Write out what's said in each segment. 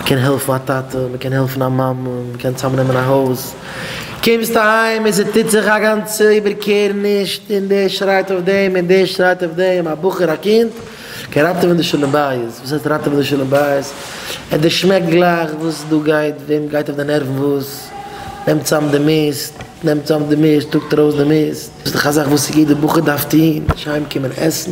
מען קען העלפן א טאטע, מען קען העלפן א מאמע, מען קען צאם נעמען א הויז, קומסט אהיים און ס'טוט זיך א גאנצע איבערקערעניש און דער שרייט אויף דעם און דער שרייט אויף דעם, א בחור א קינד קען ראטעווען די שלום בית, וואס הייסט ראטעווען די שלום בית? ער דערשמעקט גלייך וואס דא גייט, וועם גייט אויף די נערוון וואס, נעמט צאם די מיסט, נעמט צאם די מיסט, טראגט ארויס די מיסט, ס'איז דאך א זאך וואס יעדער בחור דארף טון, נישט אהיים קומען עסן.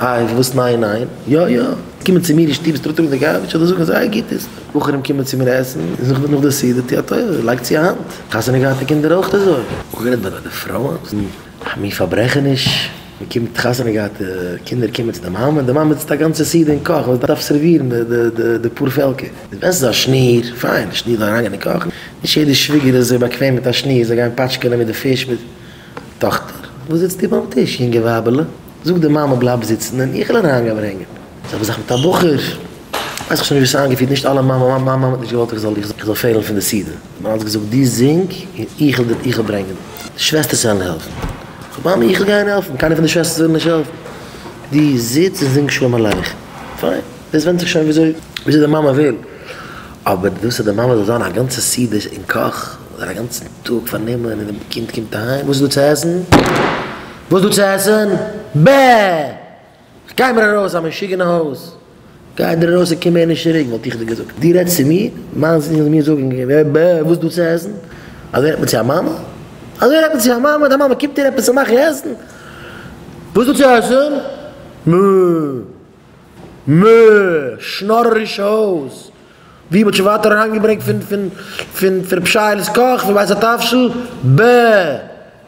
איי וואס ניין ניין? יא יא! קומען צו מיר אין שטוב סטראטרונען די גארביטש אדער זאגן זייער גוטעס. בחורים קומען צו מיר עסן און זאגן נאך די סעודה טו א טובה לייג צו א האנט. חתונה געהאטע קינדער אויך אזוי. אנגערעדט ביי די פרויען זענען א מין פארברעכעניש. מען קומט חתונה געהאטע קינדער קומען צו די מאמע און די מאמע זיצט א גאנצע סעודה אין קאך וואס דארף סערווירן די פאר פעלקער. די וועסט א שניר, פיין, שניר זאל אריינגיין אין קאך. נישט יעדע שוויגער איז אזוי באקוועם מיט א שניר, זיי גייען פאטשקענען מיט די פיש מיט טאכטער. וואס זיצט איר ביים טיש יונגע ווייבעלע? זאגט די מאמע בלייב זיצן און איך וועל אריין גיין ברענגען. זעלבע זאך מיט א בחור, ווייס איך שוין נישט ווי ס'איז איינגעפירט, נישט אלע מאמע, מיין מאמע האט נישט געוואלט איך זאל איך זאל פעלן פון די סדר, מ'האט אלץ געזאגט דו זינג און איך וועל איך וועל ברענגען. די שוועסטערס וועלן העלפן. כ'זאג מאמע איך וועל גיין העלפן, קיינער פון די שוועסטערס ווילן נישט העלפן. דו זיץ און זינג שלום עליכם. פיין, דאס ווענדט זיך שוין וויאזוי וויאזוי די מאמע וויל. אבער דאס אז די מאמע זאל זיין א גאנצע סדר אין קאך, זיין א גאנצן טאג פארנומען און די קינד קומט אהיים, וואס איז דא צו עסן? וואס דא צו עסן? בע! גיי מיר ארויס א משוגע אין הויז! גיי דיר ארויס און קום מער נישט צוריק וואלט איך דיר געזאגט. דו רעדסט צו מיר? מיין זון זאל מיר זאגן בע! וואס דא צו עסן? אזוי רעדט מען צו א מאמע? אזוי רעדט מען צו א מאמע? די מאמע קומט דיר עפעס צו מאכן עסן? וואס דא צו עסן? מע! מע! שנארערישע הויז! ווי מ'האט שוין ווייטער אריינגעברענגט פון פון פון רב שייעלע'ס קאך פון בית התבשיל? בע!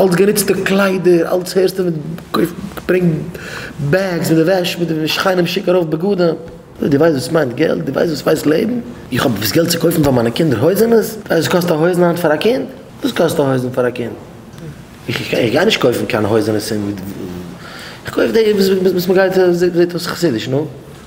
אלץ גענוצטע קליידער, אלץ הערסטו מיט קויף ברענג בעגס מיט די וועש מיט די שכנים שיק ארויף בגדים, דו ווייסט וואס מיינט געלט? דו ווייסט וואס ס'הייסט לעבן? איך האב דאס געלט צו קויפן פאר מיינע קינדער הויזענעס? דו ווייסט וואס קאסט א הויזן היינט פאר א קינד? וואס קאסט א הויזן פאר א קינד? איך גיי נישט קויפן קיין הויזענעס און איך קויף די וואס מ'גייט זעט אויס חסידיש, נו.